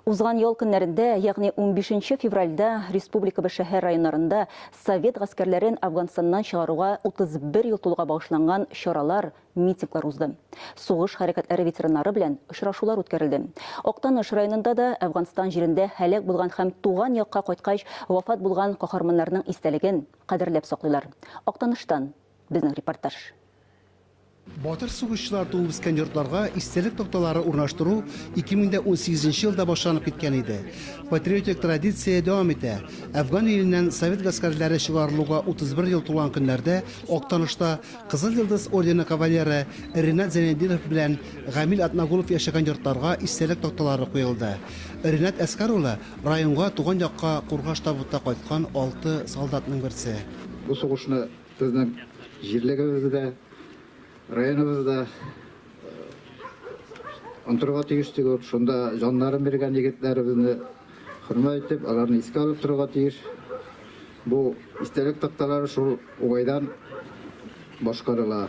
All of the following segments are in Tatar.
Узган ял көннәрендә, ягъни 15 нче февральдә республикабыз шәһәр-районнарында совет гаскәрләрен Афганстаннан чыгаруга 31 ел тулуга багышланган чаралар, митинглар узды. Сугыш хәрәкәтләре ветераннары белән очрашулар үткәрелде. Актаныш районында да Әфганстан җирендә һәлак булган һәм туган якка кайткач вафат булган каһарманнарның истәлеген кадерләп саклыйлар. Актаныштан безнең репортаж. Батыр сугышчылар туып үскән йортларга истәлек такталары урнаштыру 2018 нче елда башланып киткән иде. Патриотик традиция дәвам итә. Әфган иленнән совет гаскәрләре чыгарылуга 31 ел тулган көннәрдә Актанышта Кызыл Йолдыз ордены кавалеры Ренат Зәйнетдинов белән Гамил Атнагулов яшәгән йортларга истәлек такталары куелды. Ренат Әскар улы, районга, туган якка кургаш табутта кайткан алты солдатның берсе. Бу сугышны Безнең җирлегебездә, районыбызда онтырга тиеш түгел, шунда җаннарын биргән егетләребезне хөрмәт итеп, аларны искә алып торырга тиеш. Бу истәлек такталары шул уңайдан башкарыла.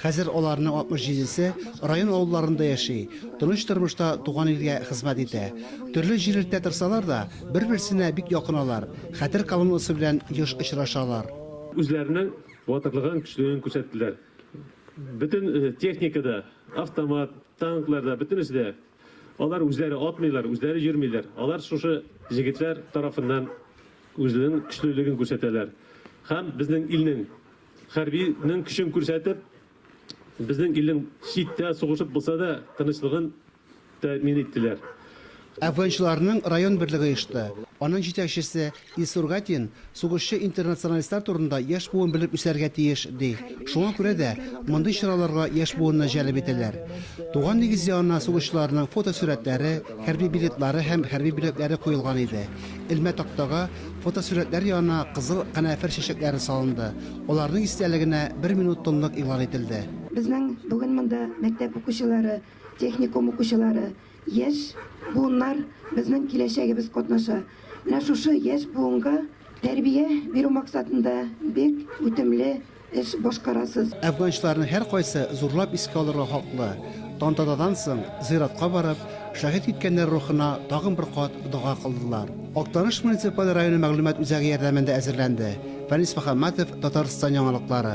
Хәзер аларның 67 се район авылларында яши, тыныч тормышта туган илгә хезмәт итә. Төрле җирлектә торсалар да, бер-берсенә бик якын алар, хәтер колоннасы белән еш очрашалар. Үзләренең батырлыгын, көчлелеген күрсәттеләр. Бөтен техника да, автомат, танклар да, бөтенесе дә, алар үзләре атмыйлар, үзләре йөрмиләр, алар шушы җегетләр тарафыннан үзенең көчлелеген күрсәтәләр һәм безнең илнең Хәрби нең көчен күрсәтеп, безнең илнең чит тә сугышып булса да тынычлыгын тәэмин иттеләр. Әфганчыларның район берлеге оешты. Аның җитәкчесе Илсур Гатин сугышчы интернационалистлар турында яшь буын белеп үсәргә тиеш, ди. Шуңа күрә дә мондый чараларга яшь буынны җәлеп итәләр. Туган нигез янына сугышчыларның фотосурәтләре, хәрби билетлары һәм хәрби бүләкләре куелган иде. элмә тактага, фотосурәтләр янына кызыл канәфер чәчәкләре салынды, аларның истәлегенә бер минут тынлык игълан ителде. Безнең бүген монда мәктәп укучылары, техникум укучылары, яшь буыннар, безнең киләчәгебез катнаша. Менә шушы яшь буынга тәрбия бирү максатында бик үтемле эш башкарасыз. Әфганчыларның һәркайсы зурлап искә алырга хаклы, тантанадан соң, зыяратка барып, шәһит киткәннәр рухына тагын бер кат дога кылдылар. Актаныш муниципаль районы мәгълүмат үзәге ярдәмендә әзерләнде, Фәнис Мөхәммәтов, Татарстан яңалыклары.